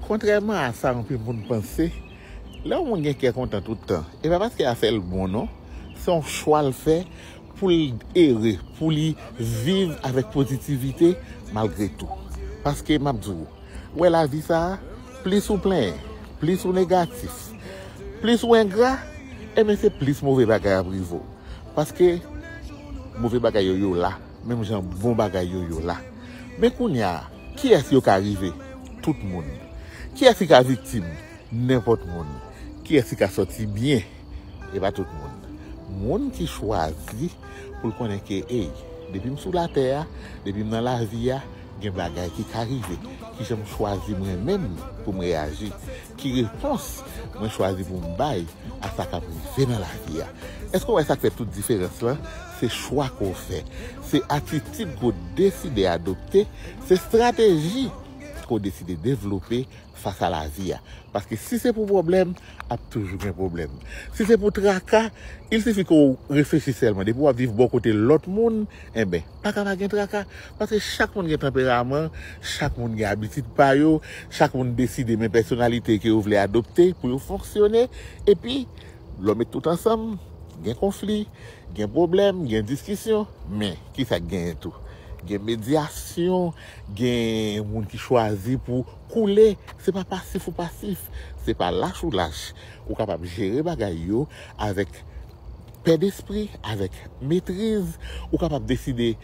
Kontrèman a sa anpil moun panse, lè yon moun gen kè kontan tout tan, e pa paske afè l bon non, se yon chwa l fè pou l ere, pou li viv avèk pozitivite malgre tou. Paske m ap di w, ou wè lavi sa a, plis ou plenyen, plis ou negatif, plis ou engra, enben se plis move bagay ap rive w. Paske move bagay yo, yo la, menm jan bon bagay yo, yo la. Men kounye a. Kiyès yo ka rive? Tout moun. Kiyès ki ka viktim? Nenpòt moun. Kiyès ki ka sòti byen? E pa tout moun. Moun ki chwazi pou l konnen ke, ey, depi m sou latè a, depi m nan lavi a, gen bagay ki ka rive. Kijan m chwazi mwen menm pou m reyaji? Ki repons mwen chwazi pou m bay a sa k ap rive nan lavi a? Èske w wè sa k fè tout diferans lan? se chwa ke w fè, se atitid ke w deside adopte, se estrateji ke w deside devlope fas a lavi a. Paske si se pou pwoblèm, ap toujou gen pwoblèm. Si se pou traka, il sifi ke w reflechi sèlman. Depi w ap viv bò kote lòt moun, enben, pa ka pa gen traka. Paske chak moun gen tanperaman, chak moun gen abitid pa yo, chak moun deside men pèsonalite ke yo vle adopte pou yo fonksyone. Epi, lò met tout ansanm, gen konfli. Gen pwoblèm, gen diskisyon, men, ki sa k genyen tou? Gen medyasyon, gen moun ki chwazi pou koule, se pa pasif ou pasif, se pa lach ou lach. Ou kapab jere bagay yo avèk pè despri, avèk metriz. Ou kapab deside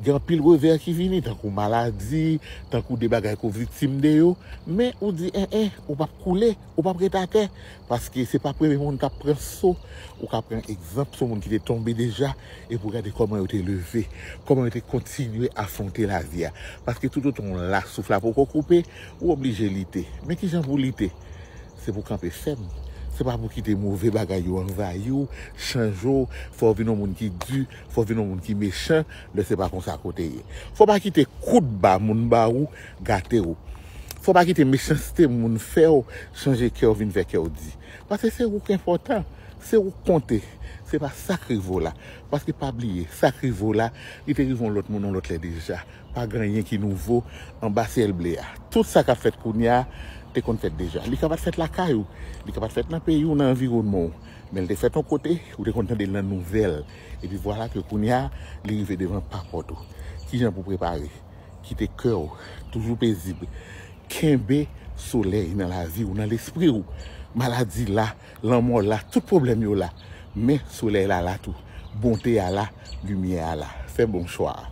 gen anpil revè ki vini, tankou maladi, tankou de bagay ke w viktim de yo, men ou di en en, ou p ap koule. Ou pap ret atè paske se pa premye moun kap pran so, ou ka pran egzanp sou moun ki te tonbe deja epi ou gade kòman yo te leve, kòman yo te kontinye afwonte lavi a. Paske toutotan w la, souf la poko koupe, ou oblije lite. Men kijan pou w lite? Se pou w kanpe fèm, se pa pou kite move bagay yo anvayi w, chanje w, fè w vin yon moun ki di, fè w vin yon moun ki mechan lè se pa konsa ke w te ye. Fò w pa kite kout ba moun ba ou gate w. Fò w pa kite mechanste moun fè w chanje kè w vin fè kè w di. Pase se ou k enpòtan, se ou k konte, se pa sa k rive w la. Paske pa bliye, sa k rive w la, li te rive yon lòt moun yon lòt lè deja. Pa gen anyen ki nouvo anba syèl ble a. Tout sa k ap fèt kounye a te konn fèt deja. Li ka pa t fèt lakay ou, li ka pa t fèt nan peyi w, nan anviwònman w, men l te fèt yon kote, ou te konn tande l nan nouvèl. Epi vwala ke kounye a, li rive devan pa pòt ou. Kijan pou w prepare? Kite kè w toujou pezib. Kenbe solèy nan lavi w, nan lespri w. Maladi la, lanmò la, tout pwoblèm yo la. Men solèy la la tou. Bonte a la, limyè a la. Fè bon chwa a.